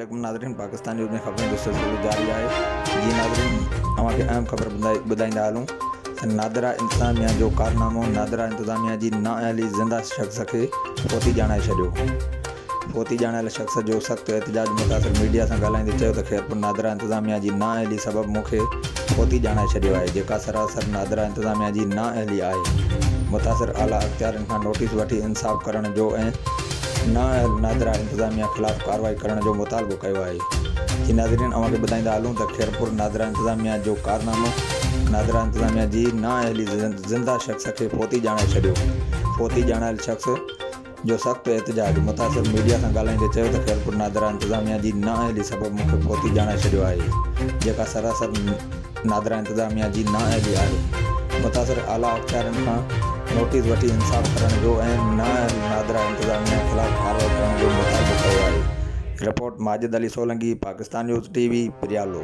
عليڪم ناظرين پاڪستان نيوز ۾ خبرن جو سلسلو جاري آهي جي ناظرين اوهان کي اهم خبر ٻڌائيندا هلون ته نادرا انتظاميا جو ڪارنامو نادرا انتظاميا جي نااهلي زنده شخص کي فوتي ڄاڻائي ڇڏيو ڀوتي ڄاڻايل شخص جو سخت احتجاج متاثر ميڊيا سان ڳالهائيندي چيو ته خيرپور نادرا انتظاميا جي نااهلي سبب مون کي ڀوتي ڄاڻائي ڇڏيو آهي جيڪا سراسر نادرا انتظاميا جي نااهلي آهي متاثر اعليٰ اختيارين کان نوٽيس وٺي انصاف ڪرڻ جو ۽ نااهل نادرا انتظاميا خلاف ڪارروائي ڪرڻ جو مطالبو ڪيو آهي جي ناظرين اوهان کي ٻڌائيندا هلون ته خيرپور نادرا انتظاميا جو ڪارنامو نادرا انتظاميا جي نااهلي زنده شخص کي ڀوتي ڄاڻائي ڇڏيو ڀوتي ڄاڻايل شخص جو سخت احتجاج، متاثر ميڊيا سان ڳالهائيندي چيو ته خيرپور نادرا انتظاميا جي نااهلي سبب مون کي فوتي ڄاڻائي ڇڏيو آهي جيڪا سراسر نادرا انتظاميا جي نااهلي آهي متاثر اعليٰ اختيارين کان نوٽيس وٺي انصاف ڪرڻ جو ۽ نااهل نادرا انتظاميا خلاف ڪارروائي ڪرڻ جو مطالبو ڪيو آهي report Majid Ali Solangi Pakistan news T V Pryalo.